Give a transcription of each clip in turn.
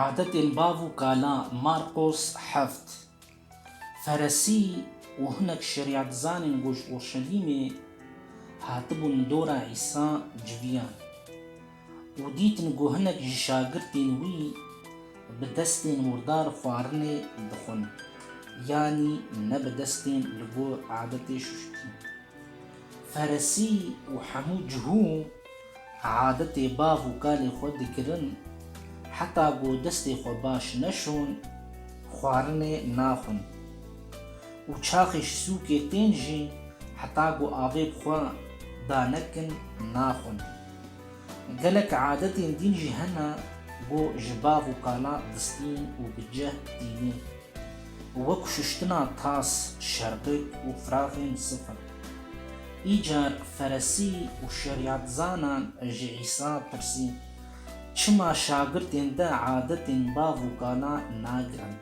Adetên bav û kalan, Marqos heft. Feresî û hinek şerîetdizanên ku ji Urşelîmê hatibûn dora Îsa civiyan û dîtin ku hinek ji şagirtên wî bi destên murdar xwarinê dixwin, yanî ne bi destên li gor adetê şuştîn. Feresî û hemû cihû. Adetê bav û kalê xwe dikirin, heta ku destê xwe baş neşon, xwarinê naxwin û çaxê ji sûkê tên jî heta ku avê bi xwe da nekin naxwin. Gelek adetên dîn jî hene ku ji bav û kala distîn û bi ceh tînin. Wek şuştina tas, şerbik û firaxên sifir. Îcar Feresî û şerîatzanan ji Îsa pirsîn, Çima şagirtên te adetên bav û kala nagirin,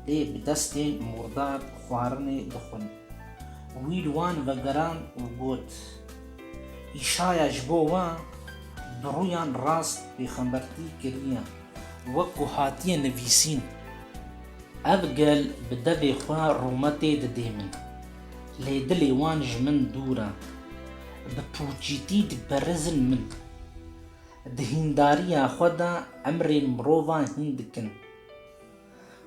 lê bi destên murdar xwarinê dixwin? Wî li wan vegerand û got, Îşaya ji bo wan bi rûyan rast pêxembertî kiriye. Wek ku hatiye nivîsîn, ev gel bi devê xwe Roma tê didê min. Lê dilê wan ji min dûr e. Bi pûçîtî diperrizin min. Di hîndariya xwe de emrên mirovan hîn dikin.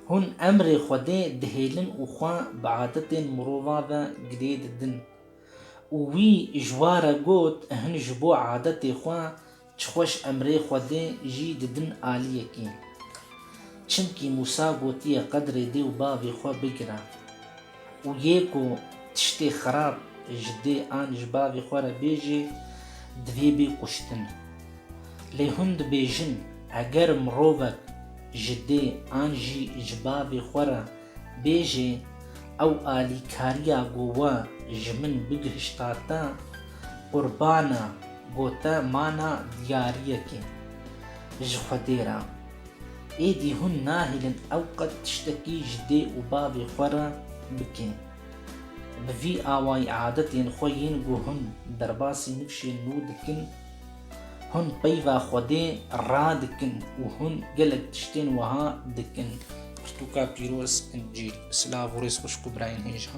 Hûn emrê Xwedê dihêlin û xwe bi adetên mirovan ve girê didin. Û wî ji wa re got, Hin ji bo adetê xwe Çi xweş em rê Xwedê jî didin aliyekî. Çimkî Mûsa gotiye qedrê dê û bavê xwe bigire. Û yê ku tiştê xerab ji dê an ji bavê xwe re bêjê divê bê kuştin. Lê hûn dibêjin eger mirovek ji dê an jî ji bavê xwe re Bêjê ew alîkariya ku we ji min bigihişta te, qurban e ku te mana diyariyekê ji Xwedê re. Êdî hûn nahêlin ew qet tiştekî ji dê û bavê xwe re bike. Bi vî awayî adetên xwe yên ku hûn derbasî nifşên nû dikin, Hûn peyva Xwedê radikin û hûn gelek tiştên wiha dikin. Pirtûka pîroz, Încîl. Silav û rêz xwişk û birayên hêja.